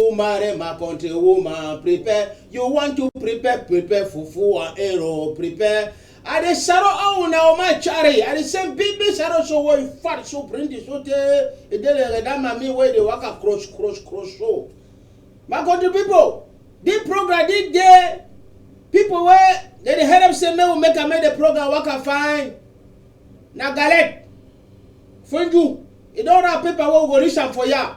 Umare my country woman prepare you want to prepare prepare fufu and ero prepare i dey saro own na o ma chari i dey send big big saro so wey fat so plenty so tey e dey like that mami wey dey waka cross cross cross so my country people this program this day people wey dey dey help say make we make am make the program waka fine na galette funju e don wrap paper wey we go reach am for ya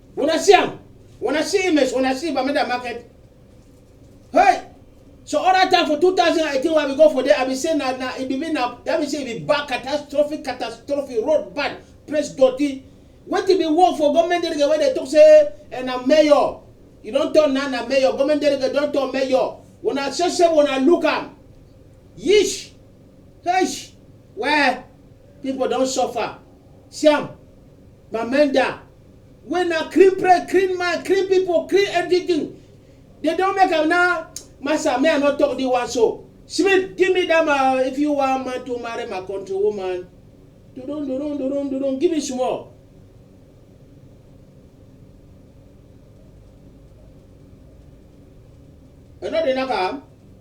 Una see am? Una see image? Una see Bamenda market? Hey! So all that time for 2018 when we go for there, I be say na na it be mean na that be say it be bad catastrophic catastrophe road bad place dirty. Wetin be work for government delegate wey dey talk say eh, na mayor you don turn na na mayor government delegate don turn mayor una sese una look am yish heish well people don suffer see am Bamenda wey na clean brain, clean mind, clean people, clean everything. They don't make am now. Master, may I not talk this one so. Smith, give me that man if you want man to marry my country woman. Do don't do don't do don't do don't give me small. Another knock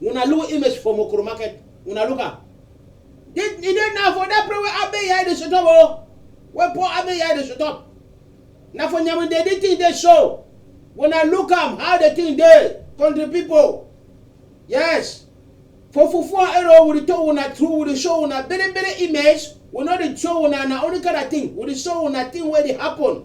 Una look image for Mokoro market. Una look am. Dey e dey now for that place wey Abe Yai dey shut up o. Wey poor Abe Yai dey shut up. Na for Nyaminde the thing dey show. Una look am how the thing dey country people. Yes. For fufu and ero we dey tell una true we dey show una bere bere image we no dey show una na only kind of thing we dey show una thing wey dey happen.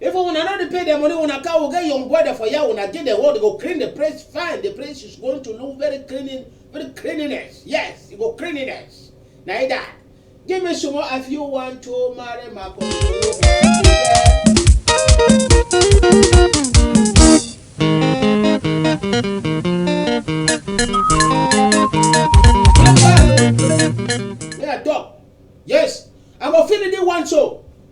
If una no dey pay their money, una cow get your brother for here, una get the world go clean the place fine. The place is going to look very cleaning, very cleanliness. Yes, it go cleanliness. Na it that. Give me some more if you want to marry my Yeah, dog. Yes, I'm a feeling you want so.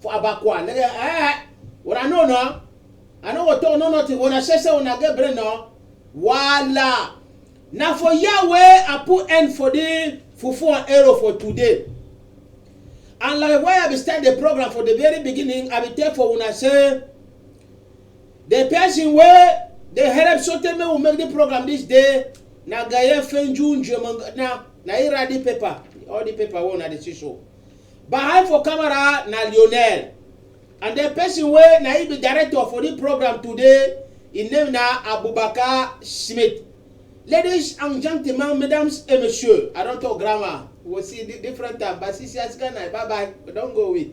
for abakwa nigga eh una know na i no go talk no nothing una say say una get brain na wala na for here wey i put end for the fufu and arrow for today and like why i be start the program for the very beginning i be tell for una say the person wey dey help sotey make we make the program this day na gaye fenju njemanga na na he write the paper all the paper wey una dey see so Behind for camera na Lionel and then person wey na im be director for this program today im name na Abubakar Schmidt. Ladies and gentlemen, mesdames et messieurs, I don talk grammar, we go see di different time, but since yes guy night, bye bye, we don go we.